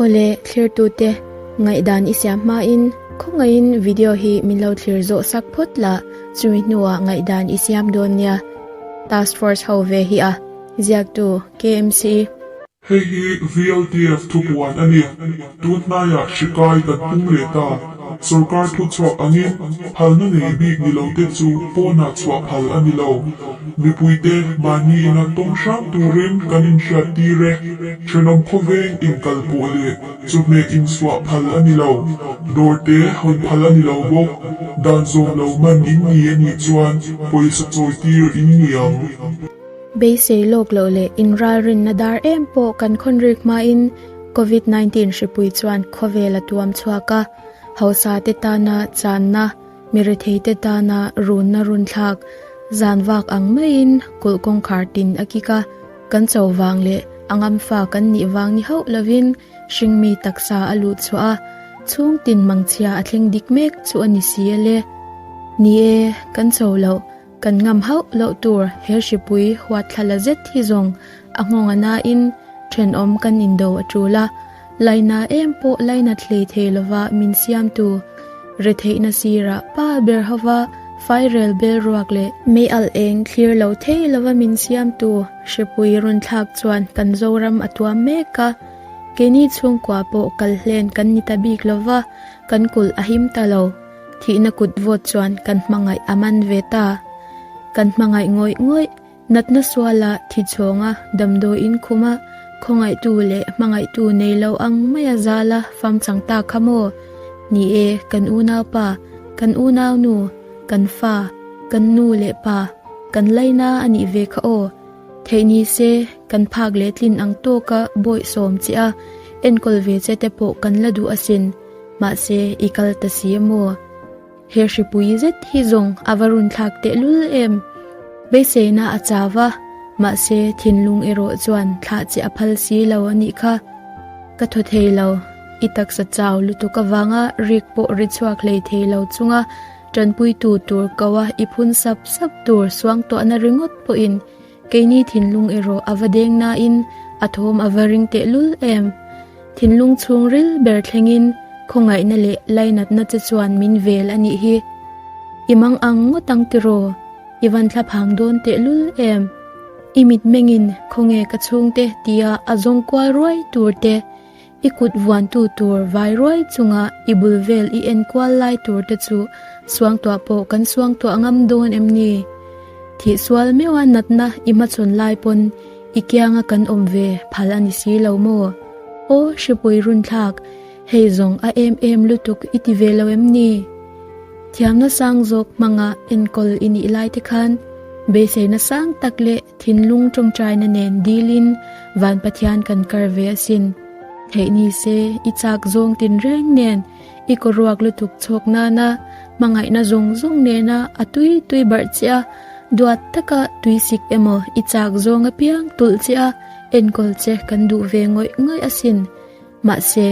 Awle thlirtute, ngaihdan i siam hmain khawngaihin video hi min lo thlir zawh sak phawt la, chumi hnuah ngaihdan i siam dawn nia, Task Force ho ve hi a ziaktu kmce. Hei hi VLTF thupuan a ni. Tun hnaiah hrikai kan pum leh ta. Sorkar thuchhuak angin phalna nei bik ni lo te chu pawnah chhuah phal a ni lo. Mipuite mahniina tawng hrang turin kan inhriat tir e, thenawm khawveng inkal pawh leh chawhmeh insuah phal a ni lo, dawr te hawn phal a ni lo bawk. Dan zawm lo man in ni a nih chuan pawisa chawi tir in ni ang. Beisei lawk loh leh inralrinna dar em pawh kan khawnrik hmain Covid nineteen hripui chuan khawvel a tuam chhuak a, hausate tana channa, miretheite tana runna runthlak, zan vak ang maiin kulh kawngkhar tin a kik a, kan cho vang leh a ngamfa kan nih vang ni hauh lovin hring mi taksa a luh chhuah a, chhung tin mangchhia a thleng dik mek chu a ni si e le. Ni e, kan cho loh. Kan ngam hauh loh tur he hripui huatthla la zet hi zawng a nghawng a nain thenawm kan indo a tul a. Laina em pawh laina thlei thei lova min siamtu retheihna sirah pa ber hova fairel bel ruak leh. Mei alh eng thlir lo thei lova min siamtu hripui rawn thlak chuan kan Zoram a tuam mek a. Keini chhungkua pawh kal hlen kan ni ta bik lova kan kulh a him ta lo. thihna kut vawt chuan kan hmangaih a man ve ta, kan hmangaih ngawih ngawih, natna suala thi chawnga damdawi inkhuma khawngaihtu leh hmangaihtu nei lo ang maia zala famchang ta kha maw ni e, kan unaupa, kan unaunu, kan fa, kan nu leh pa, kan laina a nih ve kha aw, theih ni se kan phak leh tlin ang tawka bawih sawm che a, enkawl ve che te pawh kan la duh asin. Mahse, i kal ta si e maw? He hripui zet hi zawng a va run thlak tehlul em! Beiseina a chau va, mahse, thinlung erawh chuan thlah che a phal si lo a nih kha. Ka thaw thei lo, i taksa chau lutuk avanga rik pawh ri chhuak hlei thei lo chunga tanpuitu tur koa i phun sap sap tur suangtuahna ringawt pawhin, Keini thinlung erawh a va deng nain a thawm a va ring tehlul em! Thinlung chhung ril ber thlengin khawngaihna leh lainatna che chuan min vel a nih hi. I mang ang ngawt ang tiraw? I van thla phang dawn tehlul em! I mitmengin khawnge ka chhungte tia a zawng kual ruai tur te. I kut vuantu tur vai ruai chunga i bul vel i en kual lai tur te chu suang tuah pawh kan suang tuah ngam dawn em ni? Thih sual meuha natna i hmachhawn lai pawn i kianga kan awm ve phal a ni si lo maw? Aw Hripui Runthlak, hei zawng a em em lutuk i ti ve lo em ni? Thiam nasang zawk hmanga enkawl i nih lai te khan beihleihna sang tak leh thinlung tawngtaina nen dilin, Van Pathian kan kar ve asin. Theih ni se, i chak zawng tin reng nen i kaw ruak lutuk chhawk nana hmangaihna zawng zawng nena a tui tui barh che a, duat taka tuisik emaw i chak zawnga piang tulh che a, enkawl che kan duh ve ngawih ngawih asin. Mahse,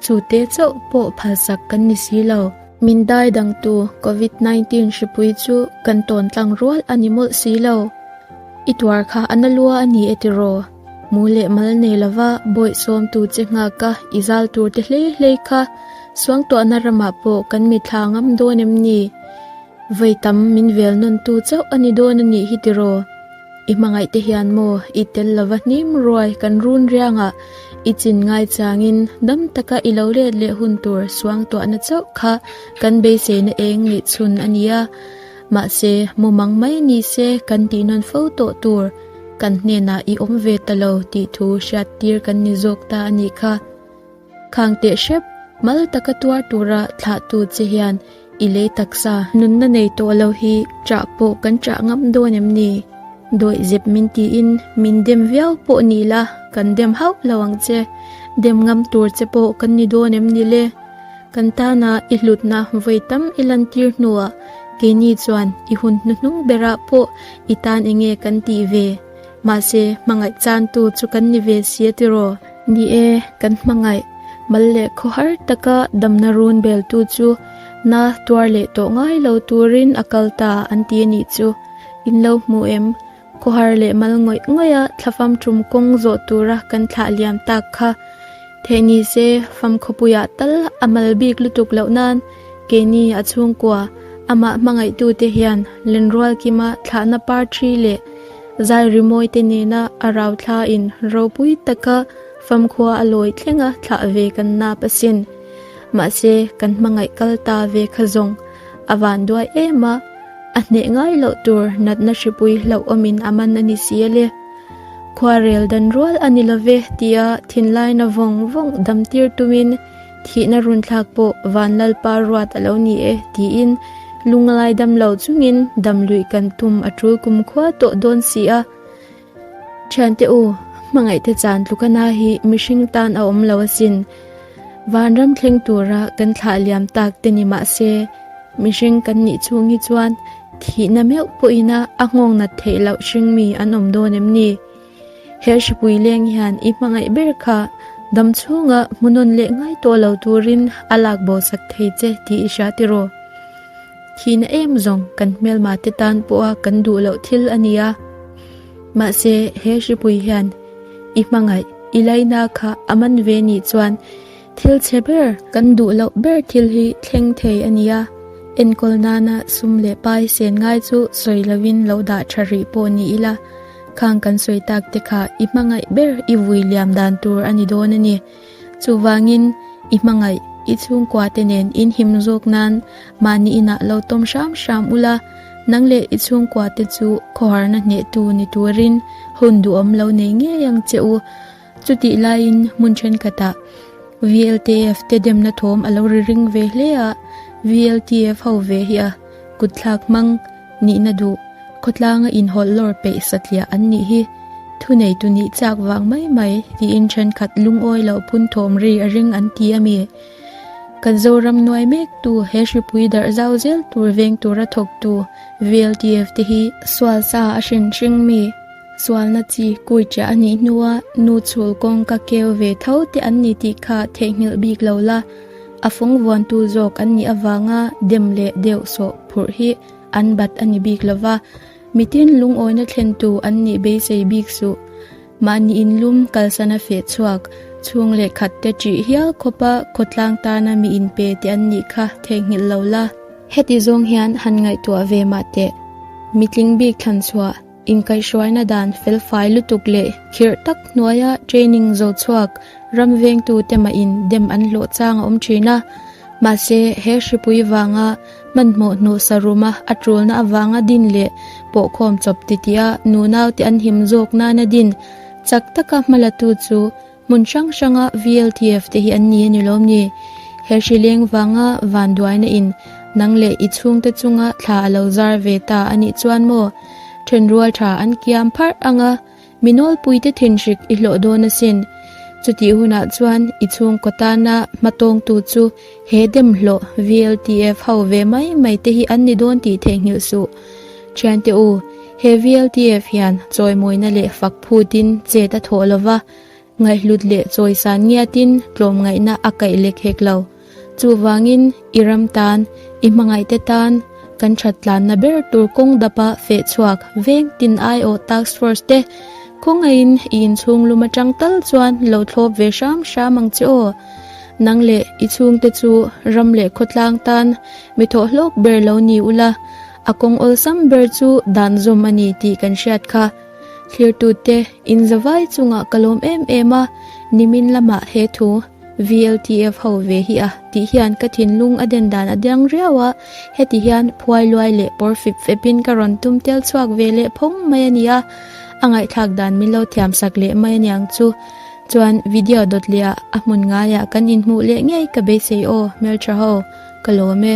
chu te chauh pawh phalsak kan ni si lo. Min dai dang tu Covid nineteen hripui chu kan tawn tlang rual a ni mawlh si lo. I tuar kha a na lua a ni e ti raw? Mu leh mal nei lova bawih sawm tu che nghaka i zal tur te hle hlei kha suangtuahna ramah pawh kan mi thla ngam dawn em ni? Vei tam min velnawn tu chauh a ni dawn a nih hi ti raw? I hmangaih te hian maw i tel lova hnim ruai kan runrianga i chin ngaichangin dam taka i lo let leh hun tur suangtuahna chauh kha kan beiseina eng nih chhun a nia. Mahse, mumang mai ni se kan tihnawn fo tawh tur kan hnenah i awm ve ta lo tih thu hriattir kan ni zawk ta a nih kha. Khang teh hrep, mal taka tuar tura thlah tu che hian i lei taksa. Nunna nei tawh lo hi chah pawh kan chah ngam dawn em ni? Dawih zep min tiin min dem viau pawh ni la, kan dem hauh lo ang che. Dem ngam tur che pawh kan ni dawn em ni le? Kan tana i hlutna vawi tam i lantir hnuah keini chuan i hun hnuhnung berah pawh i tan enge kan tih ve? Mahse, hmangaih chantu chu kan ni ve si a tiraw? Ni e, kan hmangaih mal leh khaw har taka damna run beltu chu na tuar leh tawh ngai lo turin a kal ta an ti a nih chu, in lo hmu em? Khaw har leh mal ngawih ngawih a thlafam tum kawng zawh tura kan thlah liam tak kha thei ni se famkhawpuiah tal a mal bik lutuk loh nan, Keini a chhungkua amah hmangaihtute hian Lenrual kima thlahna par thi leh zai rimawite nena a rau thlain ropui taka famkhua a lawi thleng a thlah ve kan nap a sin. Mahse kan hmangaih kal ta ve kha zawng a van duai em a, a hneh ngai loh tur natna hripui hlauh awmin a man a ni si ale. Khuarel dan rual a ni lo ve tia thinlaina vawng vawng damtir tumin Thihna run thlak pawh van Lalpa ruat a lo ni e, tiin lunglai dam lo chungin damluih kan tum a tul kum khua tawh dawn si a. Thiante u, hmangaihte chan tlukana hi mihring tan a awm lo asin. Vanram thleng tura kan thlah liam tak te ni mah se, mihring kan nih chung hi chuan thihna meuh pawhin a a nghawknat theih loh hring mi an awm dawn em ni? He Hripuileng hian i hmangaih ber kha dam chhunga hmu nawn leh ngai tawh lo turin a lak bosak thei che tih i hria tiraw? Thihna em zawng kan hmelmate tan pawha kan duh loh thil a ni a. Mahse, he Hripui hian i hmangaih, i laina kha a man ve nih chuan, Thil che ber, kan duh loh ber thil hi thleng thei a ni a, enkawl nana sum leh pai sen ngai chu sawi lovin lo dah tha rih pawh ni ila, khang kan sawi tak te kha i hmangaih ber i vui liam dan tur a ni dawn a ni. Chuvangin i hmangaih, i chhungkua te nen in him zawk nan mahni inah lo tawm hram hram ula, nang leh i chhungkua te chu khawharna hnehtu ni turin hun duhawm lo nei ngei ang che u. Chutih laiin hmun thenkhatah VLTF te demna thawm a lo ri ring ve hle a, VLTF ho ve hi a kutthlak hmang nihna duh khawtlanga inhawlh lawr peih satliah an nih hi thuneitu nih chak vang mai mai tiin thenkhat lungawi loh phun thawm ri a ring an ti a mi. Kan Zoram nuai mek tu he hripui darh zau zel tur veng tura thawktu VLTF te hi sual sa a hrin hring mi. Sualna chi kuichia a nih hnua nu chhul kawng ka keu ve tho te an ni tih kha theihnghilh bik lo la, a fungvuantu zawk an nih avanga dem leh deuh sawh phurh hi an bat a ni bik lova, mitin lungawina thlentu an nih beisei bik suh. Mah nihin lum kalsana feh chhuak, chhung leh khat te ṭih hial khawpa khawtlang tana mi inpe te an nih kha theihnghilh lo la. Heti zawng hian han ngaihtuah ve mah teh, mitling bik thlan chhuah. Inkaihhruaina dan felfai lutuk leh khirh tak hnuaia training zo chhuak ram vengtute mahin dem an hlawh chang a awm thin a. Mahse, he hripui vanga hmanhmawh hnuhsa ruma a tulna avanga din leh pawhkhawm chawp titiah nunau te an him zawk nana din chak taka hmalatu chu Hmun hrang hranga VLTF te hi an ni a ni lawm ni? He hri leng vanga van duaina in nang leh i chhungte chunga thla a lo zar ve ta a nih chuan maw? Then rual tha an kiam pharh ang a, mi nawlpuite thinhrik i hlawh dawn asin. Chutih hunah chuan i chhungkaw tana hmatawngtu chu he demhlawh VLTF ho ve mai mai te hi an ni dawn tih theihnghilh suh Thiante u, he VLTF hian chawimawina leh fakphutin chet a thawh lo va, ngaihhlut leh chawi san ngiatin tlawmngaihna a kaih lek hek lo. Chuvangin, i ram tan, i hmangaihte tan kan that tlanna ber tur kawng dapa fehchhuak veng tin ai awh task force te khawngaihin i inchhunglum atang tal chuan lo thlawp ve hram hram ang che aw. Nang leh i chhungte chu ram leh khawtlang tan Mi thawh hlawk ber lo ni ula, a kawng awlsam ber chu dan zawm a ni tih kan hriat kha. Thlirtute, in zavai chungah ka lawm em em a, nimin lamah he thu VLTF ho ve hi a tih hian ka thinlung a den dan a dirang riau a, heti hian phuai luai leh pawr fip fip in ka rawn tum tel chhuak ve leh phawng mai a ni a, a ngaihthlak dan min lo thiam sak leh mai a niang chu. Chuan video dawt leh ah a hmun ngaiah kan inhmuh leh ngei ka beisei aw, Hmeltha ho, ka lawm e.